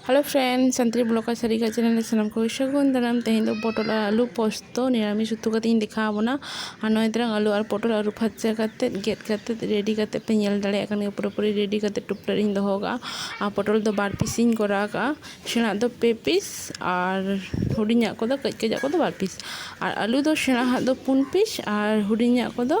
hello friend Santali blog ᱟᱨ ᱥᱟᱹᱨᱤ ᱠᱟᱜ ᱪᱮᱱᱮᱞ ᱨᱮ ᱥᱟᱱᱟᱢ ᱠᱚ ᱥᱟᱹᱜᱩᱱ ᱫᱟᱨᱟᱢ ᱛᱮᱦᱮᱧ ᱫᱚ ᱯᱚᱴᱚᱞ ᱟᱨ ᱟᱹᱞᱩ ᱯᱚᱥᱛᱚ ᱱᱤᱨᱟᱢᱤᱥ ᱩᱛᱩ ᱠᱟᱛᱮ ᱤᱧ ᱫᱮᱠᱷᱟᱣ ᱟᱵᱚᱱᱟ ᱟᱨ ᱱᱚᱜᱼᱚᱭ ᱛᱟᱨᱟᱝ ᱟᱹᱞᱩ ᱟᱨ ᱯᱚᱴᱚᱞ ᱟᱹᱨᱩ ᱯᱷᱟᱨᱪᱟ ᱠᱟᱛᱮ ᱜᱮᱫ ᱠᱟᱛᱮ ᱨᱮᱰᱤ ᱠᱟᱛᱮ ᱯᱮ ᱧᱮᱞ ᱫᱟᱲᱮᱭᱟᱜ ᱠᱟᱱ ᱜᱮᱭᱟ ᱯᱩᱨᱟᱹᱯᱩᱨᱤ ᱨᱮᱰᱤ ᱠᱟᱛᱮ ᱴᱩᱯᱴᱟᱹ ᱨᱤᱧ ᱫᱚᱦᱚ ᱠᱟᱜᱼᱟ ᱟᱨ ᱯᱚᱴᱚᱞ ᱫᱚ ᱵᱟᱨ ᱯᱤᱥ ᱤᱧ ᱠᱚᱨᱟᱣ ᱠᱟᱜᱼᱟ ᱥᱮᱬᱟ ᱫᱚ ᱯᱮ ᱯᱤᱥ ᱟᱨ ᱦᱩᱰᱤᱧᱟᱜ ᱠᱚᱫᱚ ᱠᱟᱹᱡ ᱠᱟᱹᱡᱟᱜ ᱠᱚᱫᱚ ᱵᱟᱨ ᱯᱤᱥ ᱟᱨ ᱟᱹᱞᱩ ᱫᱚ ᱥᱮᱬᱟᱣᱟᱜ ᱫᱚ ᱯᱩᱱ ᱯᱤᱥ ᱟᱨ ᱦᱩᱰᱤᱧᱟᱜ ᱠᱚᱫᱚ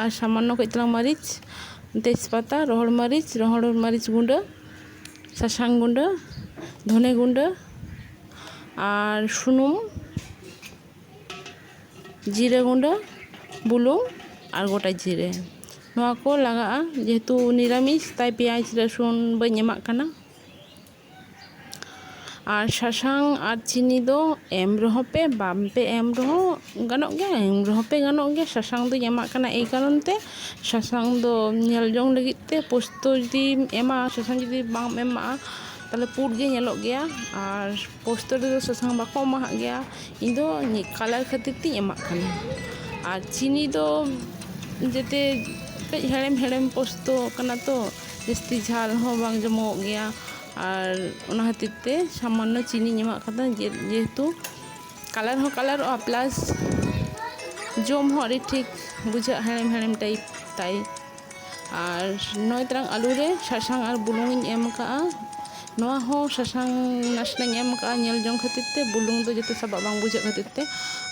ᱟᱨ ᱥᱟᱢᱟᱱᱱᱚ ᱠᱟᱹᱡ ᱛᱟᱞᱟᱝ ᱢᱟᱹᱨᱤᱪ ᱛᱮᱡᱽ ᱯᱟᱛᱟ ᱨᱚᱦᱚᱲ ᱢᱟᱹᱨᱤᱪ ᱨᱚᱦᱚᱲ ᱢᱟᱹᱨᱤᱪ ᱜᱩᱰᱟᱹ ᱥᱟᱥᱟᱝ ᱜᱩᱰᱟᱹ ᱫᱷᱚᱱᱮ ᱜᱩᱰᱟᱹ ᱟᱨ ᱥᱩᱱᱩᱢ ᱡᱤᱨᱟᱹ ᱜᱩᱰᱟᱹ ᱵᱩᱞᱩᱝ ᱟᱨ ᱜᱚᱴᱟ ᱡᱤᱨᱮ ᱱᱚᱣᱟ ᱠᱚ ᱞᱟᱜᱟᱜᱼᱟ ᱡᱮᱦᱮᱛᱩ ᱱᱤᱨᱟᱢᱤᱥ ᱛᱟᱭ ᱯᱮᱸᱭᱟᱡᱽ ᱨᱟᱹᱥᱩᱱ ᱵᱟᱹᱧ ᱮᱢᱟᱜ ᱠᱟᱱᱟ ᱟᱨ ᱥᱟᱥᱟᱝ ᱟᱨ ᱪᱤᱱᱤ ᱫᱚ ᱮᱢ ᱨᱮᱦᱚᱸ ᱯᱮ ᱵᱟᱝ ᱯᱮ ᱮᱢ ᱨᱮᱦᱚᱸ ᱜᱟᱱᱚᱜ ᱜᱮᱭᱟ ᱮᱢ ᱨᱮᱦᱚᱸ ᱯᱮ ᱜᱟᱱᱚᱜ ᱜᱮᱭᱟ ᱥᱟᱥᱟᱝ ᱫᱩᱧ ᱮᱢᱟᱜ ᱠᱟᱱᱟ ᱮᱭ ᱠᱟᱨᱚᱱ ᱛᱮ ᱥᱟᱥᱟᱝ ᱫᱚ ᱧᱮᱞ ᱡᱚᱝ ᱞᱟᱹᱜᱤᱫ ᱛᱮ ᱯᱳᱥᱛᱚ ᱡᱩᱫᱤᱢ ᱮᱢᱟ ᱥᱟᱥᱟᱝ ᱡᱩᱫᱤ ᱵᱟᱢ ᱮᱢᱟᱜᱼᱟ ᱛᱟᱦᱚᱞᱮ ᱯᱩᱸᱰ ᱜᱮ ᱧᱮᱞᱚᱜ ᱜᱮᱭᱟ ᱟᱨ ᱯᱳᱥᱛᱚ ᱨᱮᱫᱚ ᱥᱟᱥᱟᱝ ᱵᱟᱠᱚ ᱮᱢᱟᱦᱟᱜ ᱜᱮᱭᱟ ᱤᱧ ᱫᱚ ᱠᱟᱞᱟᱨ ᱠᱷᱟᱹᱛᱤᱨ ᱛᱤᱧ ᱮᱢᱟᱜ ᱠᱟᱱᱟ ᱟᱨ ᱪᱤᱱᱤ ᱫᱚ ᱡᱟᱛᱮ ᱠᱟᱹᱡ ᱦᱮᱲᱮᱢ ᱦᱮᱲᱮᱢ ᱯᱳᱥᱛᱚ ᱠᱟᱱᱟ ᱛᱚ ᱡᱟᱹᱥᱛᱤ ᱡᱷᱟᱞ ᱦᱚᱸ ᱵᱟᱝ ᱡᱚᱢᱚᱜᱚᱜ ᱜᱮᱭᱟ ᱟᱨ ᱚᱱᱟ ᱠᱷᱟᱹᱛᱤᱨ ᱛᱮ ᱥᱟᱢᱟᱱᱱᱚ ᱪᱤᱱᱤᱧ ᱮᱢᱟᱜ ᱠᱟᱫᱟ ᱡᱮᱦᱮᱛᱩ ᱠᱟᱞᱟᱨ ᱦᱚᱸ ᱠᱟᱞᱟᱨᱚᱜᱼᱟ ᱯᱞᱟᱥ ᱡᱚᱢ ᱦᱚᱸ ᱟᱹᱰᱤ ᱴᱷᱤᱠ ᱵᱩᱡᱷᱟᱹᱜᱼᱟ ᱦᱮᱲᱮᱢ ᱦᱮᱲᱮᱢ ᱴᱟᱭᱤᱯ ᱛᱟᱭ ᱟᱨ ᱱᱚᱭ ᱛᱟᱨᱟᱝ ᱟᱹᱞᱩ ᱨᱮ ᱥᱟᱥᱟᱝ ᱟᱨ ᱵᱩᱞᱩᱝ ᱤᱧ ᱮᱢ ᱠᱟᱜᱼᱟ ᱱᱚᱣᱟ ᱦᱚᱸ ᱥᱟᱥᱟᱝ ᱱᱟᱥᱮᱱᱟᱜ ᱤᱧ ᱮᱢ ᱠᱟᱜᱼᱟ ᱧᱮᱞ ᱡᱚᱝ ᱠᱷᱟᱹᱛᱤᱨ ᱛᱮ ᱵᱩᱞᱩᱝ ᱫᱚ ᱡᱟᱛᱮ ᱥᱟᱵᱟᱜ ᱵᱟᱝ ᱵᱩᱡᱷᱟᱹᱜ ᱠᱷᱟᱹᱛᱤᱨ ᱛᱮ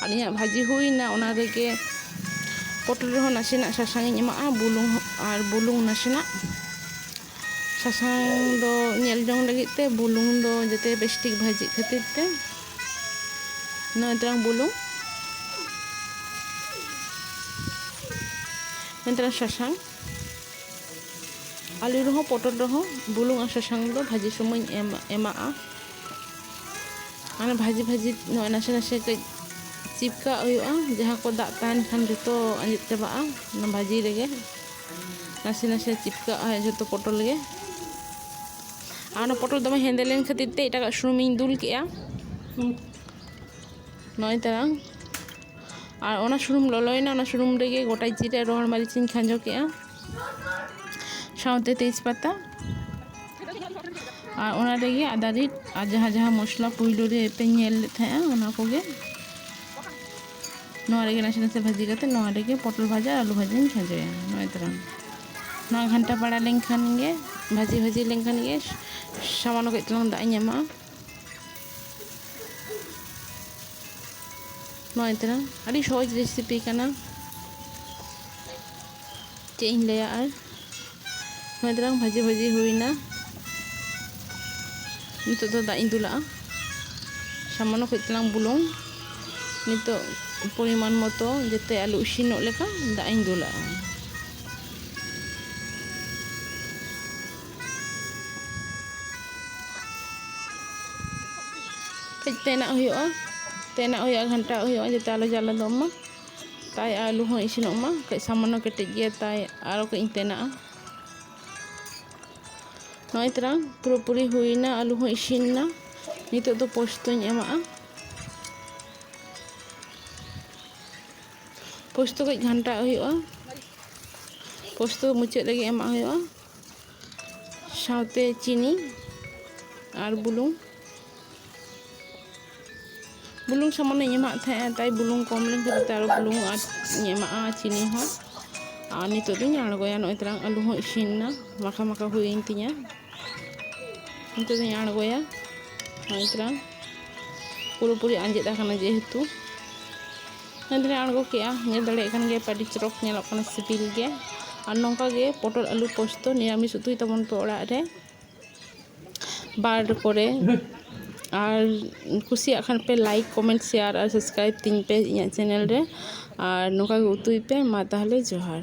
ᱟᱨ ᱤᱧᱟᱹᱜ ᱵᱷᱟᱹᱡᱤ ᱦᱩᱭᱱᱟ ᱚᱱᱟ ᱨᱮᱜᱮ ᱯᱚᱴᱚᱞ ᱨᱮᱦᱚᱸ ᱱᱟᱥᱮᱱᱟᱜ ᱥᱟᱥᱟᱝ ᱤᱧ ᱮᱢᱟᱜᱼᱟ ᱵᱩᱞᱩᱝ ᱦᱚᱸ ᱟᱨ ᱵᱩᱞᱩᱝ ᱱᱟᱥᱮᱱᱟᱜ ᱥᱟᱥᱟᱝ ᱫᱚ ᱧᱮᱞ ᱡᱚᱝ ᱞᱟᱹᱜᱤᱫ ᱛᱮ ᱵᱩᱞᱩᱝ ᱫᱚ ᱡᱟᱛᱮ ᱵᱮᱥ ᱴᱷᱤᱠ ᱵᱷᱟᱹᱡᱤᱜ ᱠᱷᱟᱹᱛᱤᱨ ᱛᱮ ᱱᱚᱣᱟ ᱛᱟᱝ ᱵᱩᱞᱩᱝ ᱱᱚᱣᱟ ᱛᱟᱝ ᱥᱟᱥᱟᱝ ᱟᱹᱞᱩ ᱨᱮᱦᱚᱸ ᱯᱚᱴᱚᱞ ᱨᱮᱦᱚᱸ ᱵᱩᱞᱩᱝ ᱟᱨ ᱥᱟᱥᱟᱝ ᱫᱚ ᱵᱷᱟᱹᱡᱤ ᱥᱚᱢᱚᱭ ᱮᱢ ᱮᱢᱟᱜᱼᱟ ᱢᱟᱱᱮ ᱵᱷᱟᱹᱡᱤ ᱵᱷᱟᱹᱡᱤ ᱱᱚᱜᱼᱚᱭ ᱱᱟᱥᱮ ᱱᱟᱥᱮ ᱠᱟᱹᱡ ᱪᱤᱯᱠᱟᱜ ᱦᱩᱭᱩᱜᱼᱟ ᱡᱟᱦᱟᱸ ᱠᱚ ᱫᱟᱜ ᱛᱟᱦᱮᱱ ᱠᱷᱟᱱ ᱡᱚᱛᱚ ᱟᱸᱡᱮᱫ ᱪᱟᱵᱟᱜᱼᱟ ᱚᱱᱟ ᱵᱷᱟᱹᱡᱤ ᱨᱮᱜᱮ ᱱᱟᱥᱮ ᱱᱟᱥᱮ ᱪᱤᱯᱠᱟᱜᱼᱟ ᱡᱚᱛᱚ ᱯᱚᱴᱚᱞ ᱜᱮ ᱟᱨ ᱚᱱᱟ ᱯᱚᱴᱚᱞ ᱫᱚᱢᱮ ᱦᱮᱸᱫᱮ ᱞᱮᱱ ᱠᱷᱟᱹᱛᱤᱨ ᱛᱮ ᱮᱴᱟᱜᱟᱜ ᱥᱩᱱᱩᱢᱤᱧ ᱫᱩᱞ ᱠᱮᱜᱼᱟ ᱱᱚᱜᱼᱚᱭ ᱛᱟᱨᱟᱝ ᱟᱨ ᱚᱱᱟ ᱥᱩᱱᱩᱢ ᱞᱚᱞᱚᱭᱮᱱᱟ ᱚᱱᱟ ᱥᱩᱱᱩᱢ ᱨᱮᱜᱮ ᱜᱚᱴᱟ ᱡᱤᱨᱟᱹ ᱨᱚᱦᱚᱲ ᱢᱟᱹᱨᱤᱪ ᱤᱧ ᱠᱷᱟᱸᱡᱚ ᱠᱮᱫᱼᱟ ᱥᱟᱶᱛᱮ ᱛᱮᱡᱽ ᱯᱟᱛᱟ ᱟᱨ ᱚᱱᱟ ᱨᱮᱜᱮ ᱟᱫᱟ ᱨᱤᱫ ᱟᱨ ᱡᱟᱦᱟᱸ ᱡᱟᱦᱟᱸ ᱢᱚᱥᱞᱟ ᱯᱩᱭᱞᱩ ᱨᱮ ᱯᱮ ᱧᱮᱞ ᱞᱮᱫ ᱛᱟᱦᱮᱸᱜᱼᱟ ᱚᱱᱟ ᱠᱚᱜᱮ ᱱᱚᱣᱟ ᱨᱮᱜᱮ ᱱᱟᱥᱮ ᱱᱟᱥᱮ ᱵᱷᱟᱹᱡᱤ ᱠᱟᱛᱮ ᱱᱚᱣᱟ ᱨᱮᱜᱮ ᱯᱚᱴᱚᱞ ᱵᱷᱟᱡᱟ ᱟᱹᱞᱩ ᱵᱷᱟᱡᱟᱧ ᱠᱷᱟᱸᱡᱚᱭᱟ ᱱᱚᱜᱼᱚᱭ ᱛᱚᱨᱟᱝ ᱱᱚᱣᱟ ᱜᱷᱟᱱᱴᱟ ᱵᱟᱲᱟ ᱞᱮᱱᱠᱷᱟᱱ ᱜᱮ ᱵᱷᱟᱹᱡᱤ ᱵᱷᱟᱹᱡᱤ ᱞᱮᱱᱠᱷᱟᱱ ᱜᱮ ᱥᱟᱢᱟᱱᱱᱚ ᱠᱟᱹᱡ ᱪᱩᱞᱩᱝ ᱫᱟᱜ ᱤᱧ ᱮᱢᱟᱜᱼᱟ ᱱᱚᱜᱼᱚᱭ ᱛᱟᱨᱟ ᱟᱹᱰᱤ ᱥᱚᱦᱚᱡ ᱨᱮᱥᱤᱯᱤ ᱠᱟᱱᱟ ᱪᱮᱫ ᱤᱧ ᱞᱟᱹᱭᱟ ᱟᱨ ᱱᱚᱜᱼᱚᱭ ᱛᱟᱨᱟ ᱵᱷᱟᱹᱡᱤ ᱵᱷᱟᱹᱡᱤ ᱦᱩᱭᱱᱟ ᱱᱤᱛᱚᱜ ᱫᱚ ᱫᱟᱜ ᱤᱧ ᱫᱩᱞᱟᱜᱼᱟ ᱥᱟᱢᱟᱱᱱᱚ ᱠᱟᱹᱡ ᱛᱟᱞᱟᱝ ᱵᱩᱞᱩᱝ ᱱᱤᱛᱚᱜ ᱯᱚᱨᱤᱢᱟᱱ ᱢᱚᱛᱚ ᱡᱟᱛᱮ ᱟᱞᱩ ᱤᱥᱤᱱᱚᱜ ᱞᱮᱠᱟ ᱫᱟᱜ ᱤᱧ ᱫᱩᱞᱟᱜᱼᱟ ᱠᱟᱹᱡ ᱛᱮᱱᱟᱜ ᱦᱩᱭᱩᱜᱼᱟ ᱛᱮᱱᱟᱜ ᱦᱩᱭᱩᱜᱼᱟ ᱜᱷᱟᱱᱴᱟᱣᱟᱜ ᱦᱩᱭᱩᱜᱼᱟ ᱡᱟᱛᱮ ᱟᱞᱚ ᱡᱟᱞᱟᱫᱚᱜ ᱢᱟ ᱛᱟᱭ ᱟᱹᱞᱩ ᱦᱚᱸ ᱤᱥᱤᱱᱚᱜ ᱢᱟ ᱠᱟᱹᱡ ᱥᱟᱢᱟᱱᱱᱚ ᱠᱮᱴᱮᱡ ᱜᱮᱭᱟ ᱛᱟᱭ ᱟᱨᱚ ᱠᱟᱹᱡ ᱤᱧ ᱛᱮᱱᱟᱜᱼᱟ ᱱᱚᱜᱼᱚᱭ ᱛᱟᱨᱟ ᱯᱩᱨᱟᱹᱯᱩᱨᱤ ᱦᱩᱭᱱᱟ ᱟᱹᱞᱩ ᱦᱚᱸ ᱤᱥᱤᱱᱱᱟ ᱱᱤᱛᱚᱜ ᱫᱚ ᱯᱳᱥᱛᱚᱧ ᱮᱢᱟᱜᱼᱟ ᱯᱳᱥᱛᱚ ᱠᱟᱹᱡ ᱜᱷᱟᱱᱴᱟᱣᱟᱜ ᱦᱩᱭᱩᱜᱼᱟ ᱯᱳᱥᱛᱚ ᱢᱩᱪᱟᱹᱫ ᱨᱮᱜᱮ ᱮᱢᱟᱜ ᱦᱩᱭᱩᱜᱼᱟ ᱥᱟᱶᱛᱮ ᱪᱤᱱᱤ ᱟᱨ ᱵᱩᱞᱩᱝ ᱵᱩᱞᱩᱝ ᱥᱟᱢᱟᱱᱤᱧ ᱮᱢᱟᱜ ᱛᱟᱦᱮᱸᱜᱼᱟ ᱛᱟᱭ ᱵᱩᱞᱩᱝ ᱠᱚᱢ ᱞᱮᱱ ᱠᱷᱟᱹᱛᱤᱨ ᱛᱮ ᱟᱨᱚ ᱵᱩᱞᱩᱝ ᱟᱨ ᱤᱧ ᱮᱢᱟᱜᱼᱟ ᱪᱤᱱᱤ ᱦᱚᱸ ᱟᱨ ᱱᱤᱛᱚᱜ ᱫᱚᱧ ᱟᱬᱜᱚᱭᱟ ᱱᱚᱜᱼᱚᱭ ᱛᱟᱞᱟᱝ ᱟᱹᱞᱩ ᱦᱚᱸ ᱤᱥᱤᱱ ᱮᱱᱟ ᱢᱟᱠᱷᱟ ᱢᱟᱠᱷᱟ ᱦᱩᱭᱮᱱ ᱛᱤᱧᱟ ᱱᱤᱛᱚᱜ ᱫᱚᱧ ᱟᱬᱜᱚᱭᱟ ᱱᱚᱜᱼᱚᱭ ᱛᱟᱞᱟᱝ ᱯᱩᱨᱟᱹᱯᱩᱨᱤ ᱟᱸᱡᱮᱫ ᱟᱠᱟᱱᱟ ᱡᱮᱦᱮᱛᱩ ᱧᱮᱞ ᱫᱚᱞᱮ ᱟᱬᱜᱚ ᱠᱮᱫᱼᱟ ᱧᱮᱞ ᱫᱟᱲᱮᱭᱟᱜ ᱠᱟᱱ ᱜᱮᱭᱟᱯᱮ ᱟᱹᱰᱤ ᱪᱚᱨᱚᱠ ᱧᱮᱞᱚᱜ ᱠᱟᱱᱟ ᱥᱤᱵᱤᱞ ᱜᱮ ᱟᱨ ᱱᱚᱝᱠᱟ ᱜᱮ ᱯᱚᱴᱚᱞ ᱟᱹᱞᱩ ᱯᱳᱥᱛᱚ ᱱᱤᱨᱟᱢᱤᱥ ᱩᱛᱩᱭ ᱛᱟᱵᱚᱱ ᱯᱮ ᱚᱲᱟᱜ ᱨᱮ ᱵᱟᱨ ᱠᱚᱨᱮ ᱟᱨ ᱠᱩᱥᱤᱭᱟᱜ ᱠᱷᱟᱱ ᱯᱮ ᱞᱟᱭᱤᱠ ᱠᱚᱢᱮᱱᱴ ᱥᱮᱭᱟᱨ ᱟᱨ ᱥᱟᱵᱥᱠᱨᱟᱭᱤᱵᱽ ᱛᱤᱧ ᱯᱮ ᱤᱧᱟᱹᱜ ᱪᱮᱱᱮᱞ ᱨᱮ ᱟᱨ ᱱᱚᱝᱠᱟ ᱜᱮ ᱩᱛᱩᱭ ᱯᱮ ᱢᱟ ᱛᱟᱦᱚᱞᱮ ᱡᱚᱦᱟᱨ